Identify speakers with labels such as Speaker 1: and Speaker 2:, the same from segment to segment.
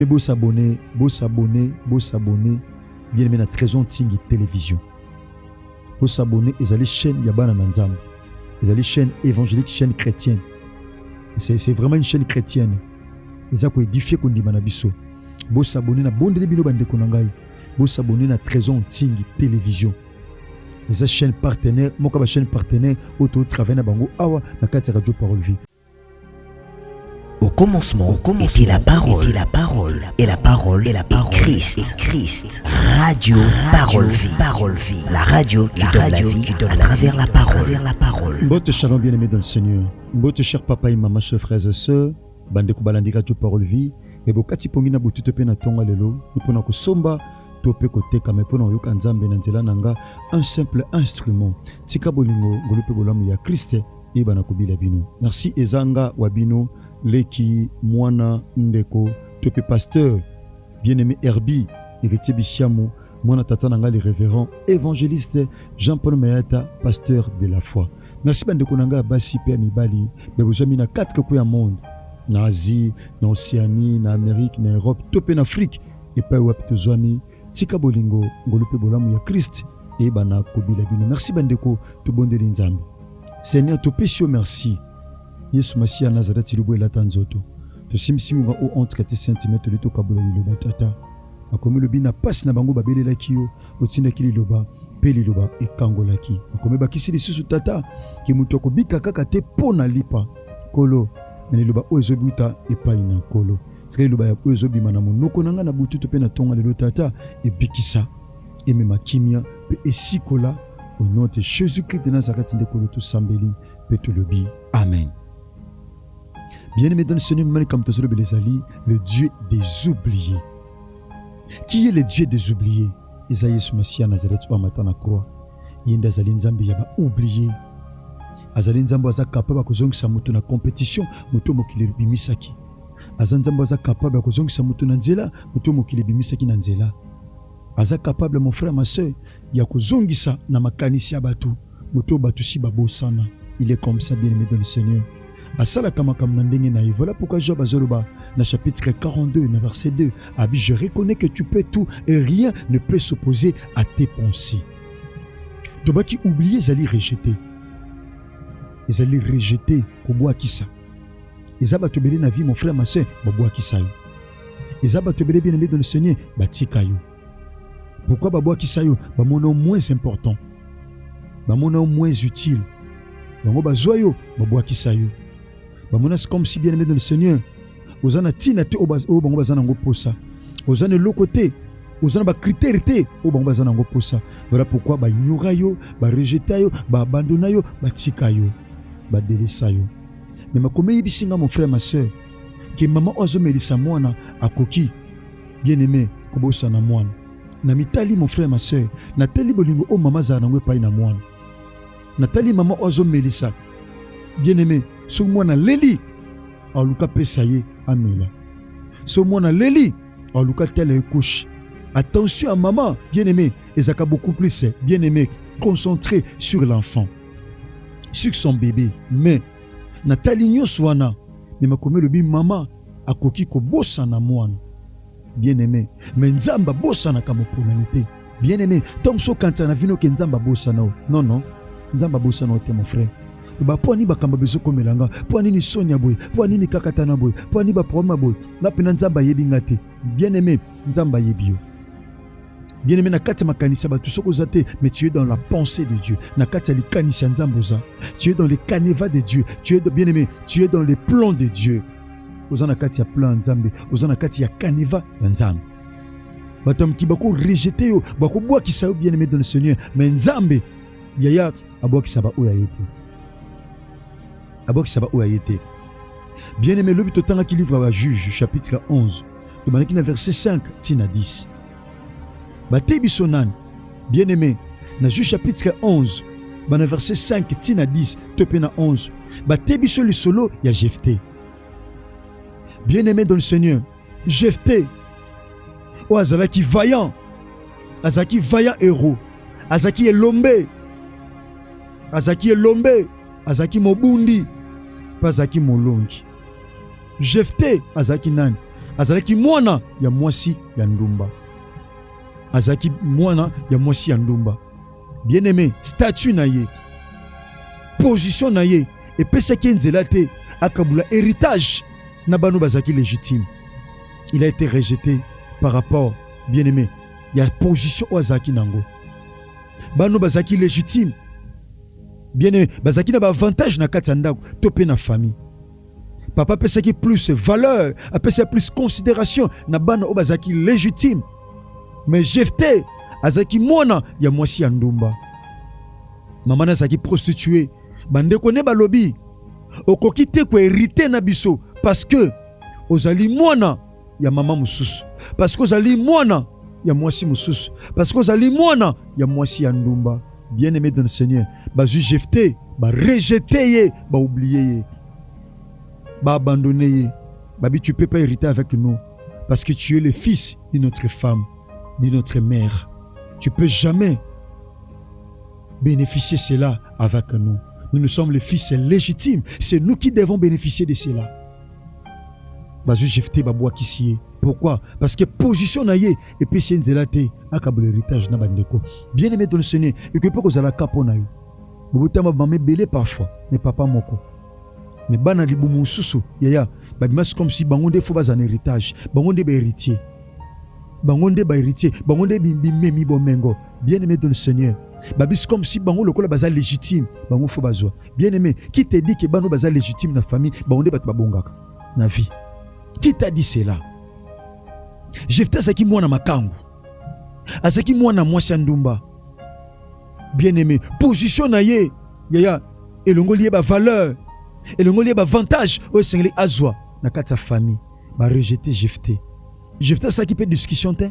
Speaker 1: Pe bo s'abonner, bo s'abonner, bo s'abonner bien aimé na Trezon Tsingi Television. Bo s'abonner ezali chaîne ya bana na Nzambe. Ezali chaîne évangélique, chaîne chrétienne. C'est c'est vraiment une chaîne chrétienne. Eza ko édifier kondima na biso. Bo s'abonner na bondeli bino ba ndeko na ngai. Bo s'abonner na Trezon Tsingi Television. Eza chaîne partenaire, moka ba chaîne partenaire oyo to travailler na bango awa na kati ya Radio Parole Vie.
Speaker 2: Au commencement, au commencement était la parole, était la parole, et la parole, et la parole, et Christ, et Christ. Radio, radio, parole, vie, parole, vie. La radio qui la donne radio la vie qui donne à la travers vie, la parole, à travers la parole. Mbote shalom bien aimé
Speaker 1: dans le Seigneur. Mbote cher papa et maman, chers frères et sœurs. Bande kubalandi radio parole vie. Mais bokati pongi na bututo pe na tonga lelo. Ni pona ko somba to pe ko teka mais pona yoka nzambe na nzela nanga un simple instrument. Tika bolingo ngolu pe bolamu ya Christ yeba na kobila bino merci ezanga wa bino leki mwana ndeko to pe pasteur bien aimé herbi héritier bisiamu mwana tata na ngai le révérend évangéliste jean paul mayata pasteur de la foi merci bandeko na ngai ya basi mpe ya mibali babozwami na kati koko ya monde na asie na océanie na amérique na europe to mpe na afrique epai wapi tozwami Tika bolingo, ngolu mpe bolamu ya Christ eyebana kobila bino. Merci bandeko, tobondeli Nzambe. Seigneur, topesi yo merci. Yesu Masiya Nazareti libo elata nzoto. Tosimbisi ngonga o entre tes saintes mains toli tokabola liloba tata. Makomi lobi na pasi na bango babelelaki yo, otindaki liloba mpe liloba ekangolaki. Makomi bakisi lisusu tata ke moto akobika kaka te mpo na lipa. Nkolo, na liloba oyo ezobuta epai na Nkolo. Tika liloba ya oyo ezobima na monoko na ngai na butu to mpe na tonga lelo, Tata, ebikisa, emema kimia mpe esikola au nom de Jésus-Christ de Nazareth nde kolo tosambeli mpe tolobi amen. Bien-aimé dans le Seigneur, mimani kamto tozolobela ezali le Dieu des oubliés. Qui est le Dieu des oubliés? Eza Yesu Masiya Nazareth oyo amata na croix. Ye nde azali Nzambe ya ba oubliés. Azali Nzambe aza capable akozongisa moto na competition moto mokili ebimisaki. aza nzambe aza capable ya kozongisa moto na nzela moto mokili ebimisaki na nzela aza capable mon frère ma soeur ya kozongisa na makanisi ya bato moto bato si babosana il est comme ça bien aimé dans le seigneur asalaka makambo na ndenge na ye voilà pourquoi job azoloba na chapitre 42 na verset 2 abi je reconnais que tu peux tout et rien ne peut s'opposer à tes pensées tobaki oublie ezali rejete ezali rejete kobwakisa eza bato ebele na vie mon frère ma soeur babwakisa yo eza bato ebele bien aimé dans le seigneur batika yo pourquoi babwakisa yo bamona yo moins important bamona yo moins utile bango bazwa yo babwakisa yo bamona c'est comme si bien aimé dans le seigneur oza na ntina te oyo bango baza nango mposa oza na eloko te oza na bakritere te oyo bango baza nango mposa voilà pourquoi baignora yo barejeta yo baabandona yo batika yo ba delisa yo mais makomi eyebisi nga mon frère ma sœur ke mama oyo azomelisa mwana akoki bien aime kobosana mwana na mitali mon frère ma sœur natali bolingo oyo mama azala nango epai na mwana natali mama oyo azomelisa bien aime soki mwana aleli aluka pesa ye amela soki mwana aleli aluka tala ye kushe attention ya mama bien aime ezalaka beaucoup plus bien aime concentré sur l'enfant sur son bebe mais natali nyonso wana me makomi elobi mama akoki kobosana mwana bien aime me nzambe abosanaka moponami te bien aime to mosusu okanisa na vino ke nzambe abosana o non non nzambe abosana o te mon frère ba mpo ani bakambo bezokomela nga mpo anini soni ya boye mpo ani mikakatana boye mpo ani baproblème ya boye nga mpena nzambe ayebi nga te bien aime nzambe ayebi yo bien aimé na kati ya makanisi ya bato soki oza te mais tu es dans la pensée de dieu na kati ya likanisi ya nzambe oza tu es dans le caneva de dieu tu es bien aimé tu es dans le plan de dieu oza na kati ya plan ya nzambe oza na kati ya caneva ya nzambe bato ya mokili bakorejete yo bakobwakisa yo bien aimé dans le seigneur mais nzambe yaya abwakisa baoyo aye te abwakisa baoyo aye te bien aimé lobi totangaki livre ya juge chapitre 11 Tobandaki na verset 5 tii na 10. Bateyi biso nani? Bien-aime, na Juge chapitre 11 bana verset 5 tii na 10 to mpe na 11 bateyi biso lisolo ya Jefte. Bien-aime dans le Seigneur, Jefte oyo azalaki vaillant, azalaki vaillant héros, azalaki elombe, azalaki elombe, azalaki mobundi mpe azalaki molongi. Jefte azalaki nani? Azalaki mwana ya mwasi ya ndumba, azalaki mwana ya mwasi ya ndumba. Bien aime, statut na ye, position na ye epesaki ye nzela te akabula heritage na bano bazalaki legitime. Il a été rejete par rapport bien aime ya position oyo azalaki nango, bano bazalaki legitime bien aime bazalaki na baavantage na kati ya ndako to mpe na famille papa apesaki plus valeur apesaki plus considération na bana oyo bazalaki légitime mais jefte azalaki mwana ya mwasi ya ndumba mama na azalaki prostitue bandeko nde balobi okoki te koherite na biso parce que ozali mwana ya mama mosusu, parce que ozali mwana ya mwasi mosusu, parce que ozali mwana ya mwasi ya ndumba. Bien aimé dans le Seigneur, bazwi Jephte, ba rejete ye, ba oublier ye, ba abandonne ye, babi tu peux pas hériter avec nous parce que tu es le fils d'une autre femme, d'une autre mère. Tu peux jamais beneficier cela avec nous. Nous, nous sommes les fils légitimes. C'est nous qui devons bénéficier de cela. Bazou Jefté Baboua Kissie. Pourquoi Parce que position na ye et puis c'est nzela te akabula héritage na bandeko. Bien aimé dans le Seigneur, et que peut kozala kapo na yo. Bobotama bamé belé parfois, mais papa moko. Mais bana libumu susu, yaya, babimas comme si bango nde faut bas en héritage, bango nde ba héritier. Bango nde ba héritier, bango nde bimemi bomengo. Bien aimé dans le Seigneur, babisi comme si bango lokola baza légitime, bango faut bazwa. Bien aimé, qui te dit que bano baza légitime na famille, bango nde bato babongaka na vie. Qui t'a dit cela? Jephthé azalaki mwana makangu, azalaki mwana mwasi ya ndumba. Bien aimé, position na ye yaya elongoli ye ba valeur, elongoli ye ba avantage oyo esengeli azwa na kati ya famille. Ba rejete Jephthé. Jephthé asalaki mpe discussion te.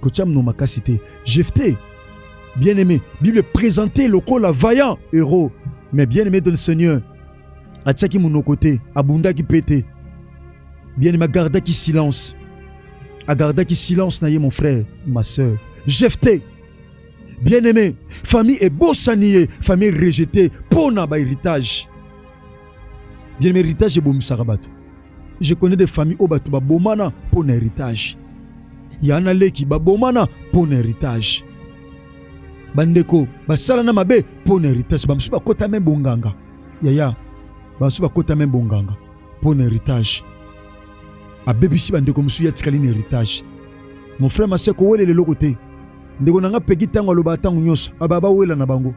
Speaker 1: Kotia mno makasi te. Jephthé, bien aimé, Bible présenté lokola vaillant héros, mais bien aimé dans le Seigneur. Atiaki monoko te, abundaki mpe te. Bien aimé agardaki silence. Agardaki silence na ye mon frère, ma sœur. Jephthé, bien aimé, famille ebosani ye, famille rejetée mpo na ba héritage. Bien héritage ebomisaka bato. Je connais des familles oyo bato babomana mpo na héritage. Yana leki babomana mpo na héritage. Bandeko basalana mabe mpo na héritage. Bamosusu bakota meme bonganga. Yaya, bamosusu bakota meme bonganga mpo na héritage. Abebisi bandeko mosusu ye atikali na héritage. Mon frère ma sœur kowelela eloko te. Ndeko na nga Peggy ntango alobaka ntango nyonso aba bawela na bango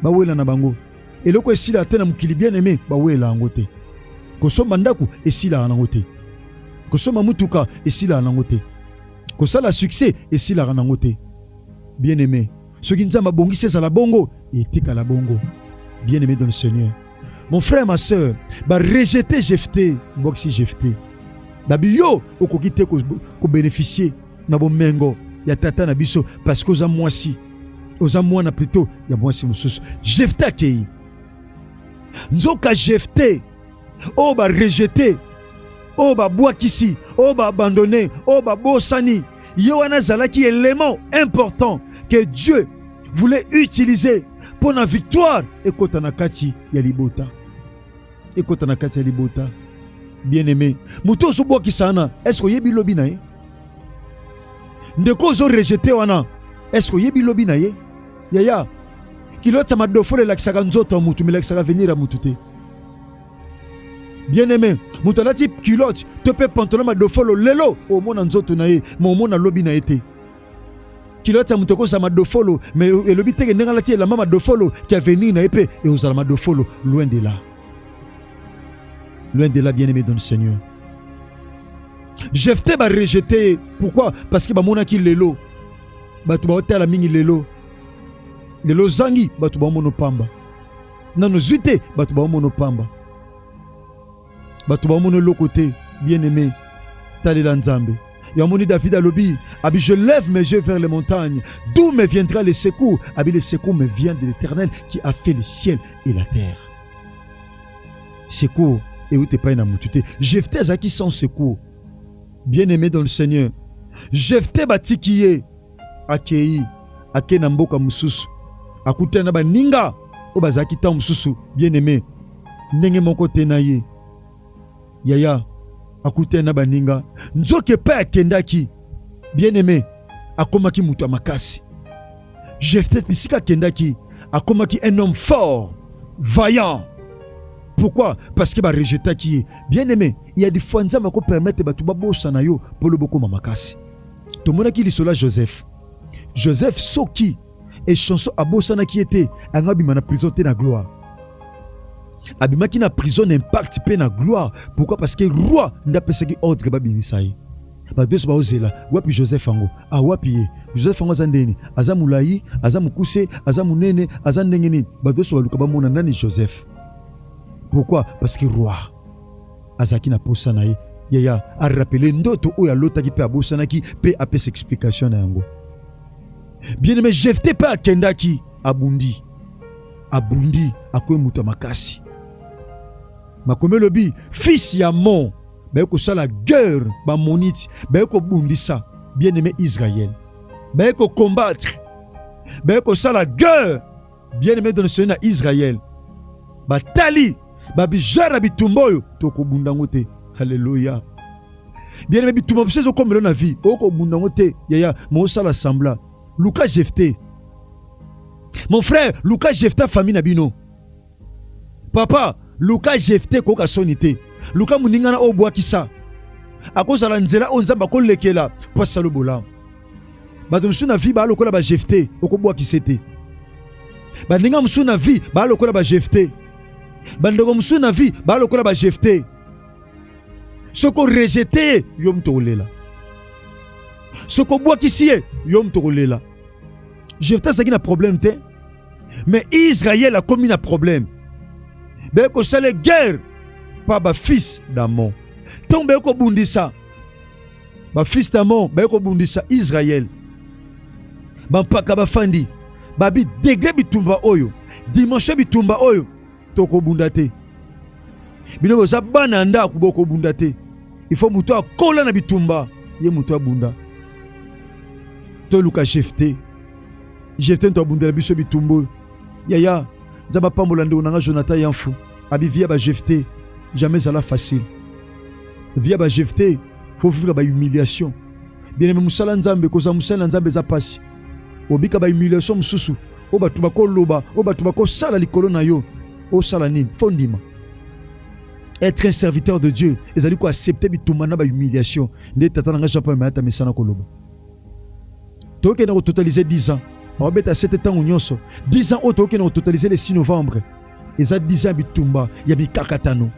Speaker 1: bawela na bango Eloko esila te na mokili bien aime, bawela yango te. Kosomba ndako esilaka nango te. Kosomba mutuka esilaka nango te. Kosala succès esilaka nango te. Bien aime, soki Nzambe abongisi ezala bongo, etikala bongo. Bien aime dans le Seigneur. Mon frère, ma soeur, ba rejeter Jephthé, mbokisi Jephthé. Babi yo okoki te ko bénéficier na bomengo ya tata na biso parce que oza mwasi oza mwana plutôt ya mwasi mosusu jefte akei nzoka jefte oyo barejete oyo babwakisi oyo baabandone oyo babosani ye wana azalaki element important que dieu voulait utiliser mpo na victoire ekota na kati ya libota ekota na kati ya libota. Bien aime, moto ozobwakisa wana, eske oyebi lobi na ye? Ndeko ozo rejete wana, eske oyebi lobi na ye? Yaya, kiloti ya madofolo elakisaka nzoto ya motu, melakisaka avenir ya motu te. Bien aime, moto alati kiloti to mpe pantalon madofolo lelo, omona nzoto na ye, ma omona lobi na ye te. kiloti ya moto ekozala madofolo me elobi teke ndenge alati elamba madofolo ki avenir na ye mpe ekozala madofolo loin de là loin de là bien aimé dans le seigneur jefte barejete ye pourquoi parce que bamonaki lelo bato baotala mingi lelo lelo ozangi bato baomono pamba nano zwi te bato baomono pamba bato bamona eloko te bien aimé talela nzambe yamoni david alobi abi je lève mes yeux vers les montagnes d'où me viendra le secours abi le secours me vient de l'éternel qui a fait le ciel et la terre secours euti epai na motu te jefte azalaki sans secours bien aimé dans le seigneur jefte batiki ye Akei akei na mboka mosusu, akutani na baninga oyo bazalaki ntango mosusu bien aime ndenge moko te na ye. Yaya akutani na baninga, nzoka epai akendaki bien aime akomaki moto ya makasi. Jephthé bisika akendaki akomaki un homme fort, vaillant. Pourquoi? Parce que ba rejetaki ye. Bien aime, il y a des fois Nzambe ako permettre bato babosana yo mpo lobi okoma makasi. Tomonaki lisolo ya Joseph. Joseph soki echanson abosanaki ye te yango abima na prison te na gloire abimaki na prison na impact mpe na gloire pourquoi parce que roi nde apesaki ordre babimisa ye bato nyonso baozela wapi joseph yango ah, wapi ye joseph yango aza ndeni aza molai aza mokuse aza monene aza ndenge nini bato nyonso baluka bamona nani joseph pourquoi parce que roi azalaki na posa na ye yaya arapele ndoto oyo alotaki mpe abosanaki mpe apesa explication na yango bien aime jefte mpe akendaki abundi abundi akoye moto ya makasi makomi elobi fils ya mon baye kosala guerre bamoniti baye kobundisa bien aime israel baye kokombattre baye kosala guerre bien aime dans le Seigneur na Israël batali ba bijoueur na bitumba oyo tokobunda yango te haleluya bien aime bitumba biso ezokomela na vie okobunda yango te yaya mosala sembla luka jefte mon frère luka jefte famille na bino papa luka jefte koyoka soni te luka moningana oyo obwakisa akozala nzela oyo nzambe akolekela mpo asala bolamu bato mosusu na vie baa lokola ba jefte okobwakise te baninga mosusu na vie baa lokola ba jefte bandeko mosusu na vie baa lokola ba jefte soki orejete ye yo moto okolela soki obwakisi ye yo moto okolela jefte azalaki na problème te mais israel akomi na problème beye kosala guerre pa bafils damon ntango beye kobundisa bafiliste amo baye kobundisa israele bampaka bafandi babi degre bitumba oyo dimension ya bitumba oyo tokobunda te bino boza bana ya ndako bokobunda te ifo moto akola na bitumba ye moto abunda toluka jefte jefte moto abundela biso bitumba oyo yaya nzambe apambola ndeko na nga jonathan yanfu abi via bajefte jamais ezala facile via bajefte faut vivre ba humiliation bien aimé musala nzambe kozala mosali na nzambe eza pasi obika ba humiliation mosusu oyo bato bakoloba oyo bato bakosala likolo na yo osala nini fo ndima être un serviteur de dieu ezali koaccepte bitumba na bahumiliation nde tata na ngai jean paul mayata mesana koloba tokende kototalize 10 ans aobeta sete ntango nyonso 10 ans oyo tokende kototalize le 6 novembre eza 10 ans bitumba ya mikakatano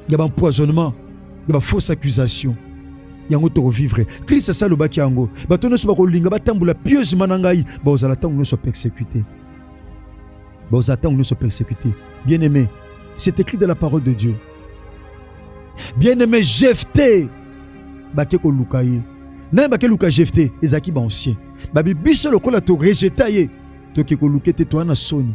Speaker 1: ya ba empoisonnement ya ba fausse accusation yango tokovivre krist asi alobaki yango bato nyonso bakolinga batambola pieusement na ngai bakozala ntango nyonso persécuté bakozala ntango nyonso persécuté bien aimé c'est écrit de la parole de dieu bien aimé jefte bake koluka ye naye bake luka jefte ezalaki baancien babi biso lokola torejeta ye toke koluka ete toya na soni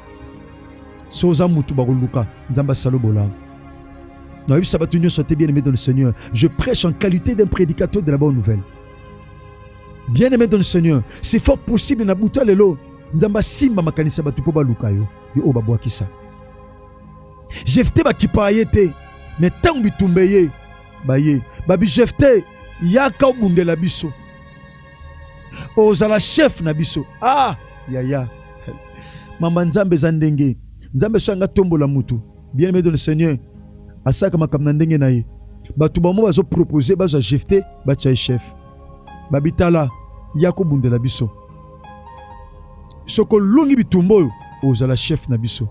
Speaker 1: so oza mutu bakoluka nzambe asala bolamu nayebisa bato nyonso te bien aimé dans le seigneur je prêche en qualité d'un prédicateur de la bonne nouvelle bien aimé dans le seigneur c'est fort possible na buta lelo nzambe asimba makanisi ya bato mpo baluka yo yo oyo babwakisa jefte bakipaka ye te me ntango bitumba eye baye babi jefte yaka obundela biso ozala chef na biso ah yaya mama nzambe eza ndenge nzambe soki anga tombola motu bien aimé de le seigneur asalaka makambo na ndenge na ye bato bango bazopropose bazwa jefte batya ye chef babitala ya kobundela biso soko olongi bitumba oyo ozala chef na biso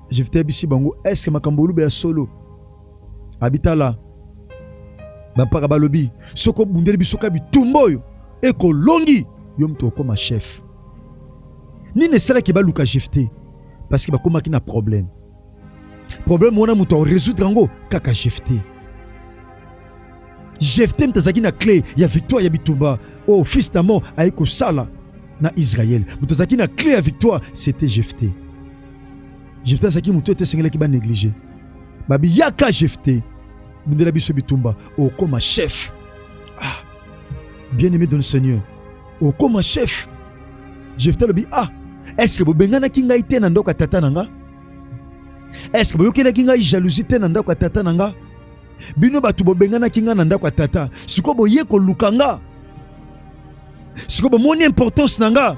Speaker 1: jefte ayebisi bango eske makambo oluba ya solo abitala bampaka balobi soki obundeli biso ka bitumba oyo ekolongi yo moto okoma chef nini esalaki baluka jefte parce que bakomaki na problème problème wana moto akoresoudre yango kaka jefte jefte moto azalaki na clé ya victoire ya bitumba oyo oh, fils d'amon ayei kosala na israel moto azalaki na clé ya victoire c'était jefte Jefte azalaki moto ete esengelaki ba neglige babi yaka Jefte bundela biso bitumba okoma chef ah, bien aimé dans le Seigneur okoma chef Jefte alobi ah est ce que bobenganaki ngai te na ndako ya tata na nga est ce que boyokelaki ngai jalousie te na ndako ya tata na nga bino bato bobenganaki ngai na ndako ya tata sikoyo boye koluka nga sikoyo bomoni importance na nga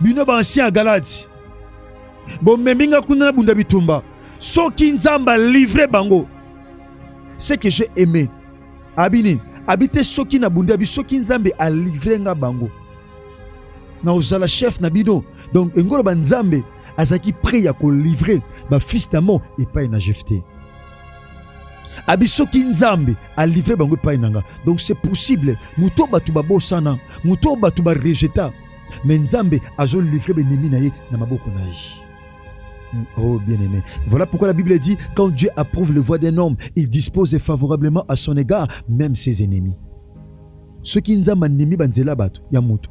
Speaker 1: Bino ba ancien ya Galadi, bomemi nga kuna na bunda bitumba. Soki Nzambe alivre bango, ce que j'ai aimé abi nini abi te soki na bunda bi soki Nzambe alivre nga bango na ozala chef na bino. Donc engoloba Nzambe azalaki prêt ya kolivre ba fils d'Amon epai na Jephte. abi soki nzambe alivre bango epai na nga donc c'est possible moto oyo bato babosana moto oyo bato barejeta me nzambe azolivre benemi na ye na maboko na ye hmm, Oh bien-aimé, voilà pourquoi la Bible dit, quand Dieu approuve le voie d'un homme, il dispose favorablement à son égard même ses ennemis. Soki Nzambe andimi ba nzela bato ya moto,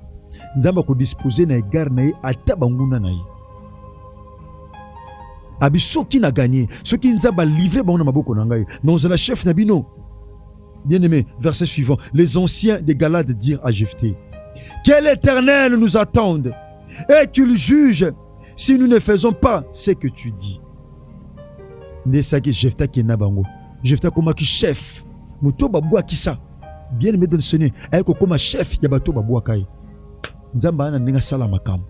Speaker 1: Nzambe ako disposer na égard na ye ata banguna na ye. Abi soki na gagner, soki Nzambe a livrer bango na maboko na ngai, na ozala chef na bino. Bien aimé, verset suivant, les anciens de Galade dirent à Jephthé, que l'Éternel nous attende et qu'il juge si nous ne faisons pas ce que tu dis. Ndesaki Jephthé kena bango. Jephthé komaki chef. Moto babwaki ça. bien aimé Delsene aye kokoma chef ya bato babwaka ye nzambe aya na ndenge asala makambo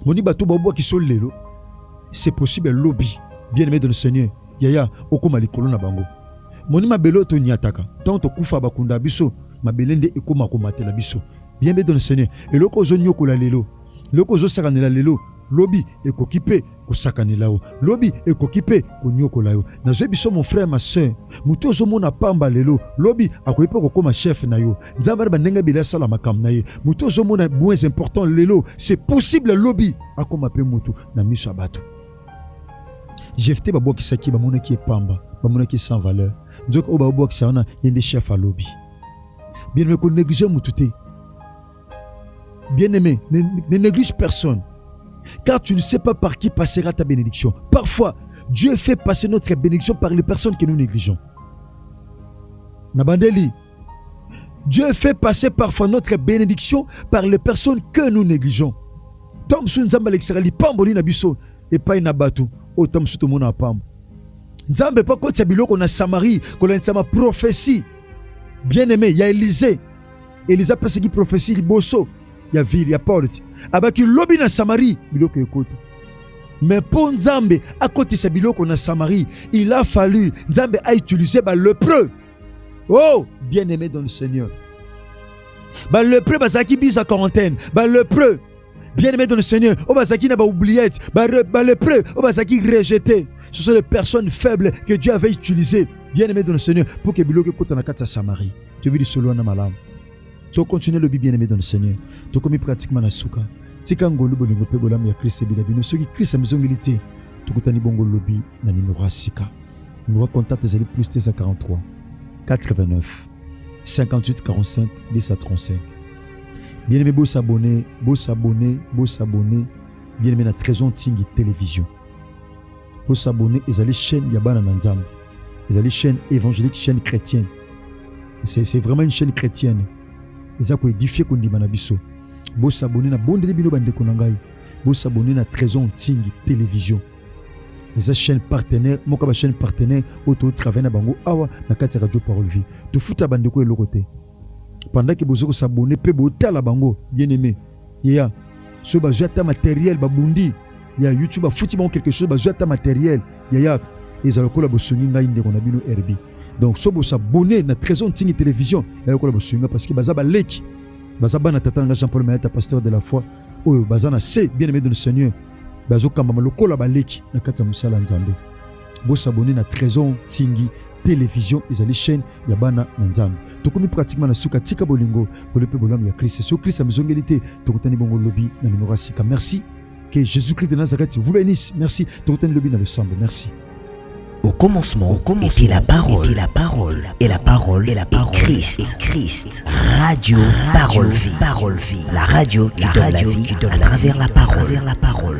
Speaker 1: moni bato babwaki so lelo c'est possible lobi bien aimé Delsene yaya okoma likolo na bango moni mabele oyo tonyataka ntango tokufa bakunda biso mabele nde ekoma komatela biso bien aimé Delsene eloko ozonyokola lelo eloko ozosakanela lelo lobi ekoki mpe kosakanela yo lobi ekoki mpe konyokola yo. Nazwe biso mon frère ma soeur, moto ozomona pamba lelo lobi akoki mpe kokoma chef na yo. Nzambe na bandenge ebele asala makambo na ye. Moto ozomona moins important lelo, c'est possible lobi akoma mpe moto na miso ya bato. Jefte babwakisaki bamonaki epamba, bamonaki sans valeur, nzoka oyo babwakisa wana ye nde chef alobi. Bien aime koneglige moto te. Bien-aimé, ne, ne néglige personne. Car tu ne sais pas par qui passera ta bénédiction. Parfois, Dieu fait passer notre bénédiction par les personnes que nous négligeons. Nabandeli, Dieu fait passer parfois notre bénédiction par les personnes que nous négligeons. Tant que nous alekisaka lipambo li na biso epai na bato oyo ntango mosusu tomona na pambo nzambe mpo akotisa biloko na samarie kolandisa prophétie bien aimé ya élisée Eliza apesaki profesi liboso ya ville ya porte, abaki lobi na Samarie biloko ekoti. Mais mpo Nzambe akotisa biloko na Samarie, il a fallu Nzambe a utiliser ba lepreux. Oh, bien-aimé dans le Seigneur. Ba lepreux bazalaki bisa quarantaine, ba lepreux bien aimé dans le Seigneur, on va s'acquitter dans oubliettes, dans les preuves, on va s'acquitter rejeté. Ce sont les personnes faibles que Dieu avait utilisées, bien aimé dans le Seigneur, pour que Biloke kote na kati ya Samarie. Tu veux dire solo na malam. Tu continues le bien aimé dans le Seigneur. Tu commis pratiquement na souka. Tika ngolu bolingo pe bolam ya Christ bila bino. Soki Christ amizongeli te, tu kutani bongo lobi na nimora sika. Numero contact ezali plus 43 89 58 45 10 à 35. Bien aimé bo s'abonner, bo s'abonner, bo s'abonner. Bien aimé na Trésor Tsingi télévision. Bo s'abonner ezali chaîne ya bana na Nzambe. Ezali chaîne évangélique, chaîne chrétienne. C'est vraiment une chaîne chrétienne. Eza ko édifier ko ndima na biso. Bo s'abonner na bondeli bino ba ndeko na ngai. Bo s'abonner na Trésor Tsingi télévision. Eza chaîne partenaire, moka ba chaîne partenaire auto travailler na bango awa na kati radio parole vie. Tufuta ba ndeko eloko te. pendant que bozo ko s'abonner pe botala bango bien aimé yeya so bazwi ata materiel babundi ya youtube afuti bango quelque chose bazwi ata materiel yaya ezala lokola bosungi ngai ndeko na bino herbi donc so bosabone na trésor ntingi télévision ya lokola bosungi ngai parce que baza baleki baza bana tata na ngai jean paul mayata pasteur de la foi oyo baza na se bien aimé de le seigneur bazokambama lokola baleki na kati ya mosala ya nzambe Bo s'abonner na Tresor Nsingi television ezali chaîne ya bana na Nzambe. Tokomi pratiquement na suka, tika bolingo, pole pe bolamu ya Christ. Soki Christ amizongeli te, tokutani bongo lobi na numero ya sika. Merci. Que Jésus-Christ de Nazareth vous bénisse. Merci. Tokutani lobi na losambo. Merci. Au
Speaker 2: commencement, au commencement était la parole, était la parole, et la parole, et la parole, et Christ, et Christ. Radio, radio, parole, vie, parole, vie. La radio, qui la donne radio, la vie, qui donne à la travers vie, la parole, la parole.